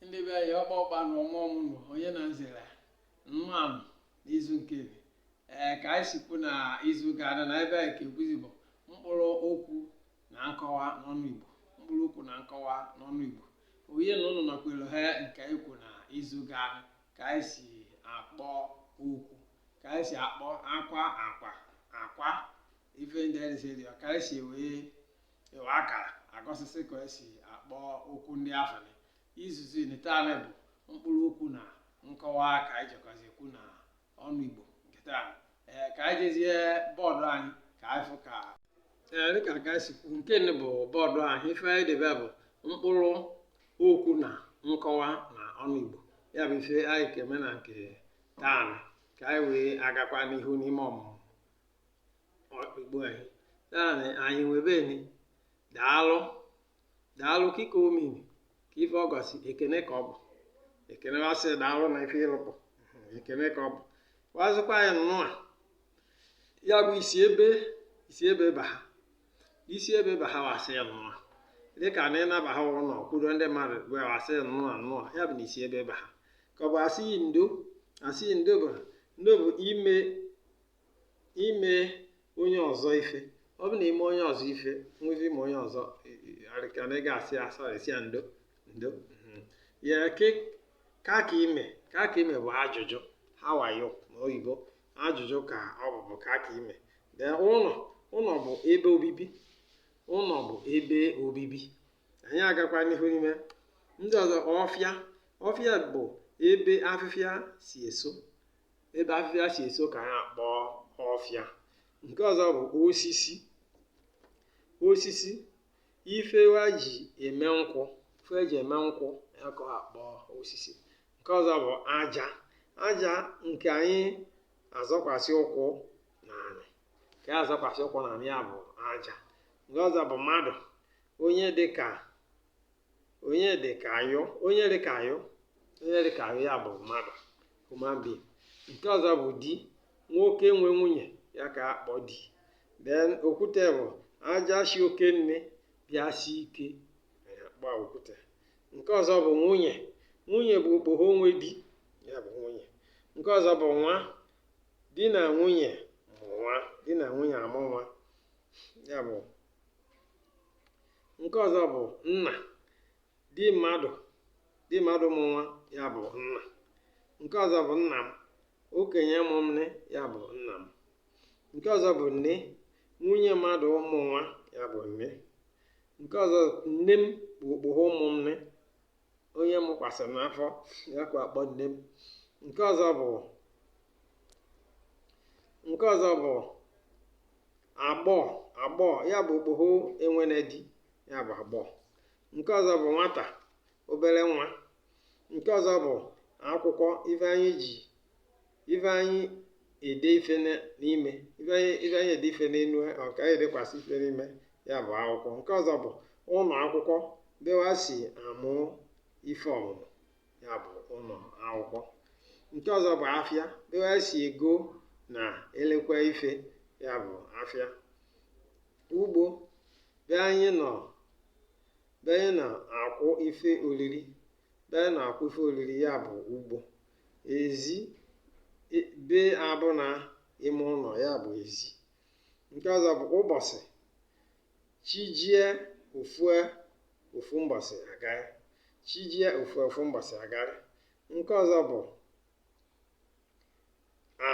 ndị be anyị ọkpa ọkpa na ọnwa ọmụnụ onye na nzere mma nụ n'izu nkeni ee ka anyị sikwu na izu ganụ na ife anyị ka ekwuzi bụ mkpụrụ okwu na nkọwa n'ọnụ igbo mkpụrụ okwu na nkọwa n'ọnụ igbo onye na ụnụ nakwere ha nke anyị kwu na izu ganụ ka anyị si akpọ okwu ka anyị si akpọ akwa akwa akwa ife ndị anyị si dị ka anyị si wee ịwa akara egosisị ka esi akpọ okwu ndị afụ n'izuzi ni taanị bụ mkpụrụ okwu na nkọwa ka anyị jekwazi ekwu na ọnụ igbo nke taa ee ka anyị jezie bọọdụ anyị ka anyị fụ ka ee dịka ka anyị si kwu nkeni bụ bọọdụ anyị ife anyị debe bụ mkpụrụ okwu na nkọwa na ọnụ igbo ya bụ ife anyị ka eme na nke taanị ka anyị wee agakwa n'ihu n'ime ọmụmụ igbo anyị taanị anyị nwe ebeni daalụ daalụ kị ka ọ mịnị ka ife ọ gosi ekene ka ọ bụ ekene wa sị daalụ na ife ị lụpụ ekene ka ọ bụ wa sịkwa anyị nnụa ya bụ ị si ebe ị si ebe baha ị si ebe baha wa sị ya nnụa dịka na ị na-abaha ụnọ kwudo ndị mmadụ wee wa sị nnụa nnụa ya bụ na ị si ebe baha ka ọ bụ asị ndo asị ndo bụ ndo bụ i me i me onye ọzọ ife ọ bụ na i me onye ọzọ ife nwezi i me onye ọzọ arịka na ị ga-asị sorry sị ya ndo ndo mhm. ya ke ka ka i me ka ka i me bụ ajụjụ how are you n'oyibo ajụjụ ka ọ bụ bụ ka ka i me then ụnọ ụnọ bụ ebe obibi ụnọ bụ ebe obibi anyị agakwa n'ihu n'ime ndị ọzọ ọfịa ọfịa bụ ebe afịfịa si eso ebe afịfịa si eso ka anyị akpọ ọfịa nke ọzọ bụ osisi osisi ife wa ji eme nkụ ife eji eme nkụ ya ka akpọ osisi nke ọzọ bụ aja aja nke anyị azọkwasị ụkwụ na anị nke azọkwasị ụkwụ na anị ya bụ aja nke ọzọ bụ mmadụ onye dị ka onye dị ka ayụ onye dị ka ayụ onye dị ka ayụ ya bụ mmadụ human being nke ọzọ bụ di nwoke nwe nwunye ya ka akpọ di then okwute bụ aja si oke nne bịa si ike akpọ okwute nke ọzọ bụ nwunye nwunye bụ okpoho nwe di ya bụ nwunye nke ọzọ bụ nwa di na nwunye mụ nwa di na nwunye amụ nwa ya bụ nke ọzọ bụ nna di mmadụ di mmadụ mụ nwa ya bụ nna nke ọzọ bụ nna m okenye mụ m nị ya bụ nna m nke ọzọ bụ nne nwunye mmadụ mụ nwa ya bụ nne nke ọzọ nne m bụ okpoho mụ m nị onye mụkwasịrị n'afọ ya ka akpọ nne m nke ọzọ bụ nke ọzọ bụ agbọọ agbọọ ya bụ okpoho enwene di ya bụ agbọọ nke ọzọ bụ nwata obele nwa nke ọzọ bụ akwụkwọ ife anyị ji ife anyị ede ife n'ime ife anyị ede ife n'enu ọka anyị edekwasị ife n'ime ya bụ akwụkwọ nke ọzọ bụ ụnọ akwụkwọ be wa si amụ ife ọmụmụ ya bụ ụnọ akwụkwọ nke ọzọ bụ afịa be wa si ego na elekwa ife ya bụ afịa ugbo be anyị nọ akwụ ife oriri be anyị na-akwụ ife oriri ya bụ ugbo ezi be abụna ime ụnọ ya bụ ezi nke ọzọ bụ ụbọsị chi jie o fue ofu mbọsị agarị chi jie o fue ofu mbọsị agarị nke ọzọ bụ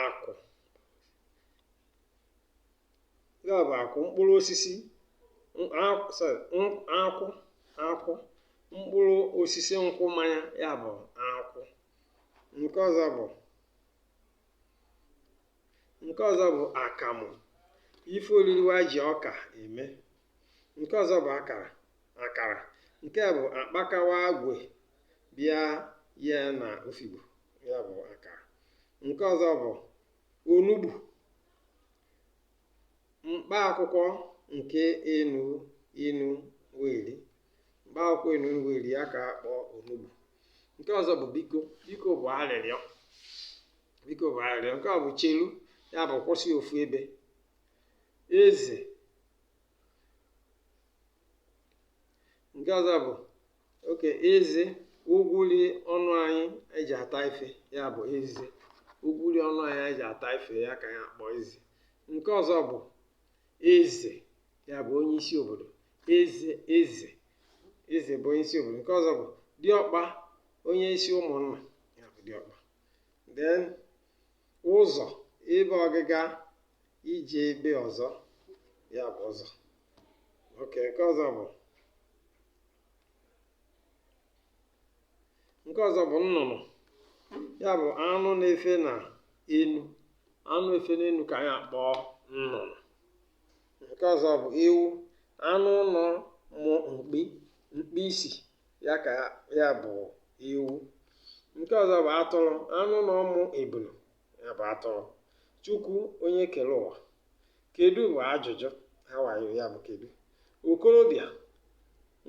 akụ nke a bụ akụ mkpụrụ osisi nkwụ akụ mkpụrụ osisi nkwụ mmanya ya bụ akụ nke ọzọ bụ nke ọzọ bụ akamụ ife oriri wa ji ọka eme nke ọzọ bụ akara akara nke a bụ akpaka wa agwe bịa ye na ofigbo ya bụ akara nke ọzọ bụ onugbu mkpa akwụkwọ nke enu inu wa eri mkpa akwụkwọ enu inu wa eri ya ka akpọ onugbu nke ọzọ bụ biko biko bụ arịrịọ biko bụ arịrịọ nke ọ bụ chelu ya bụ kwụsị ofu ebe eze nke ọzọ bụ okay eze ugwuli ọnụ anyị eji ata ife ya bụ eze ugwuli ọnụ anyị eji ata ife ya ka ya akpọ eze nke ọzọ bụ eze ya bụ onye isi obodo eze eze eze bụ onye isi obodo nke ọzọ bụ diọkpa onye isi ụmụnna ya bụ diọkpa then ụzọ ebe ọgịga ije ebe ọzọ ya bụ ụzọ okay nke ọzọ bụ nke ọzọ bụ nnụnụ ya bụ anụ na-efe na enu anụ na-efe n'enu ka anyị akpọ nnụnụ nke ọzọ bụ ewu anụ ụnọ mụ mkpi mkpi isi ya ka ya bụ ewu nke ọzọ bụ atụrụ anụ ụnọ mụ ebulu ya bụ atụrụ chukwu onye kere ụwa kedu bụ ajụjụ how are you ya bụ kedu okorobịa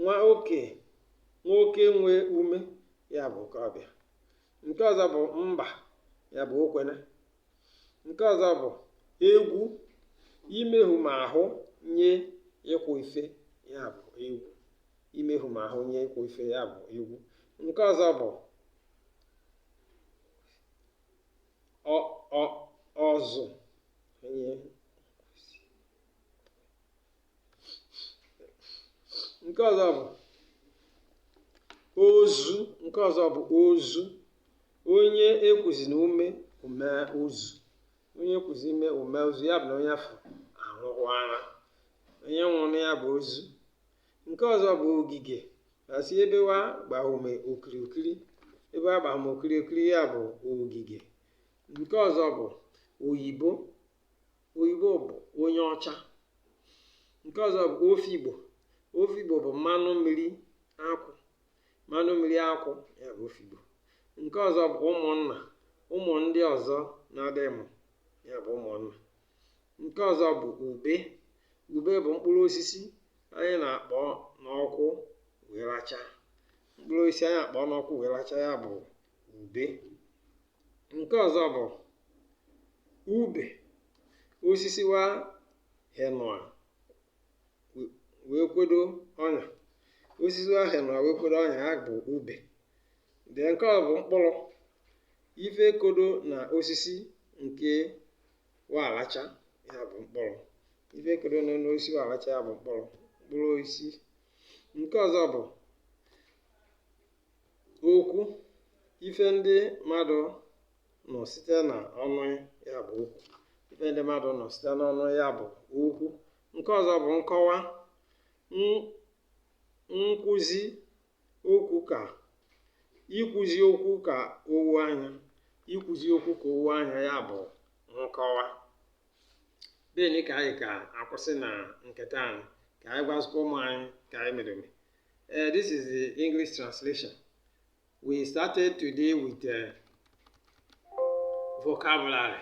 nwoke nwoke nwee ume ya bụ okorobịa nke ọzọ bụ mba ya bụ okwene nke ọzọ bụ egwu imehu ma ahụ nye ịkwụ ife ya bụ egwu imehu ma ahụ nye ịkwụ ife ya bụ egwu nke ọzọ bụ ọzụ nke ọzọ bụ ozu nke ọzọ bụ ozu onye ekwuzi na ume o mee ozu onye ekwuzi ume o mee ozu ya bụ na onye afụ anwụọla onye nwụrụ ya bụ ozu nke ọzọ bụ ogige asị ebe wa gbahume okirikiri ebe wa gbahume okirikiri ya bụ ogige nke ọzọ bụ oyibo oyibo bụ onye ọcha nke ọzọ bụ ofigbo ofigbo bụ mmanụ mmiri akwụ mmanụ mmiri akwụ ya bụ ofigbo nke ọzọ bụ ụmụnna ụmụ ndị ọzọ nnadi mụ ya bụ ụmụnna nke ọzọ bụ ube ube bụ mkpụrụ osisi anyị na-akpọ n'ọkụ wee racha mkpụrụ osisi anyị akpọ n'ọkụ wee racha ya bụ ube nke ọzọ bụ ube osisi wa henụa wee kwedo ọnya osisi wa henụa wee kwedo ọnya ya bụ ube de nke ọ bụ mkpụrụ ife kodo na osisi nke wa alacha ya bụ mkpụrụ ife kodo na osisi wa alacha ya bụ mkpụrụ mkpụrụ osisi nke ọzọ bụ okwu ife ndị mmadụ nụ site na ọnụ ya bụ okwu ife ndị mmadụ nụ site n'ọnụ ya bụ okwu nke ọzọ bụ nkọwa nkwụzi okwu ka ikwuzi okwu ka o wo anya ikwuzi okwu ka o wo anya ya bụ nkọwa beni ka anyị ka akwụsị na nke taanị ka anyị gwazikwa ụmụ anyị ka anyị mereme uh, eh, this is the english translation we started today with uh, vocabulary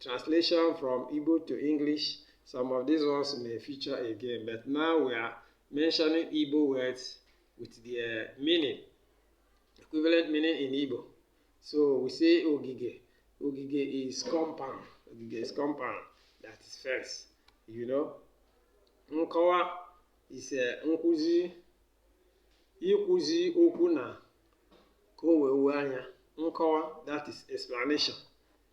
translation from Igbo to English. Some of these ones may feature again, but now we are mentioning Igbo words with their meaning, equivalent meaning in Igbo. So we say Ogige. Ogige is compound. Ogige is compound. That is fence. You know? Nkowa is a uh, nkuzi. Ikuzi okwu na ka o wee anya. Nkowa, that is explanation.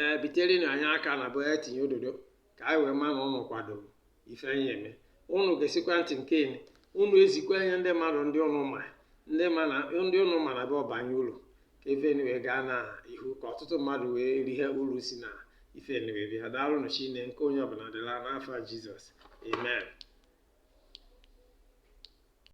ee bitereni anyị aka n'ebe wa tinye ododo ka anyị wee ma na ụnụ kwadoro ife anyị eme ụnụ gesikwa ntị nkeni ụnụ ezikwaa nye ndị mmadụ ndị ụnụ ma ndị ma na ndị ụnụ ma na be ọ banye uru ka ifeni wee gaa na ihu ka ọtụtụ mmadụ wee rihe uru si na ifeni wee bịa daalụ nụ chine nke onye ọbụla dịla n'afa jizọs amen